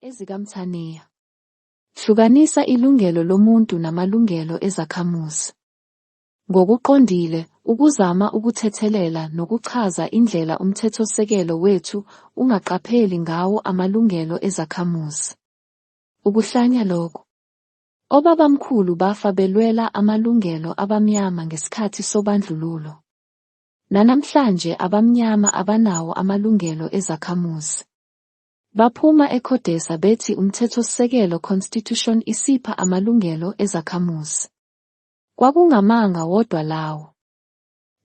EzikaMthaniya. Hlukanisa ilungelo lomuntu namalungelo ezakhamuzi. Ngokuqondile, ukuzama ukuthethelela nokuchaza indlela uMthethosisekelo wethu ungaqapheli ngawo amalungelo ezakhamuzi. Ukuhlanya lokhu. Obabamkhulu bafa belwela amalungelo abamnyama ngesikhathi sobandlululo. Nanamhlanje abamnyama abanawo amalungelo ezakhamuzi. Baphuma eCodesa bethi uMthethosisekelo, Constitution, isipha amalungelo ezakhamuzi. Kwakungamanga wodwa lawo.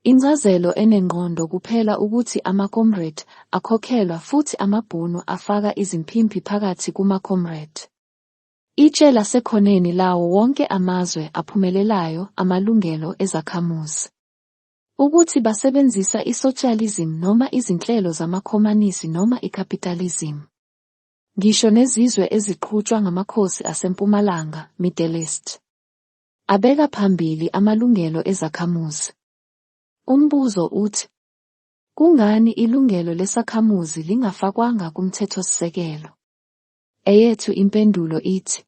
Incazelo enengqondo kuphela ukuthi amaComrade akhokhelwa futhi amaBhunu afaka izimpimpi phakathi kumaComrade. Itshe lasekhoneni lawo wonke amazwe aphumelelayo amalungelo ezakhamuzi. Ukuthi basebenzisa isotshializim noma izinhlelo zamaKhomanisi noma ikapitalizimu. Ngisho nezizwe eziqhutshwa ngamakhosi aseMpumalanga, Middle East. Abeka phambili amalungelo ezakhamuzi. Umbuzo uthi, Kungani ilungelo lesakhamuzi lingafakwanga kuMthethosisekelo? Eyethu impendulo ithi,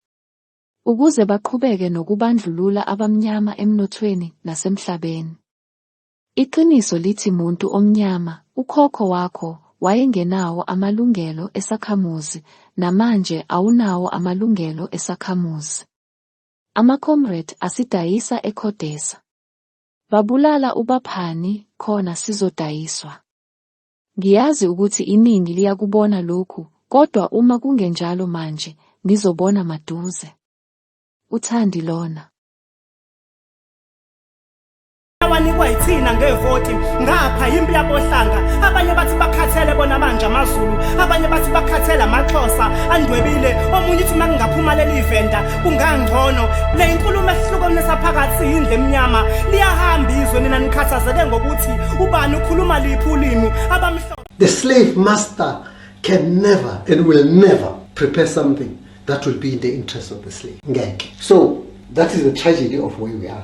ukuze baqhubeke nokubandlulula abamnyama emnothweni nasemhlabeni. Iqiniso lithi muntu omnyama, ukhokho wakho wayengenawo amalungelo esakhamuzi, namanje awunawo amalungelo esakhamuzi. Amacomrade asidayisa eCodesa. Babulala uBaphani, khona sizodayiswa. Ngiyazi ukuthi iningi liyakubona lokhu, kodwa uma kungenjalo manje, nizobona maduze. UThandi lona. awanikwa yithina ngevoti ngapha yimpi yabohlanga abanye bathi bakhathele bona manje amazulu abanye bathi bakhathele amaxhosa andwebile omunye uthi uma kungaphuma leli venda kungangcono le inkulumo ehluka kunesaphakathi yindle emnyama liyahamba izwe nina nikhathazeke ngokuthi ubani ukhuluma liphi ulimi abamhlophe the slave master can never and will never prepare something that will be in the interest of the slave ngeke so that is the tragedy of where we are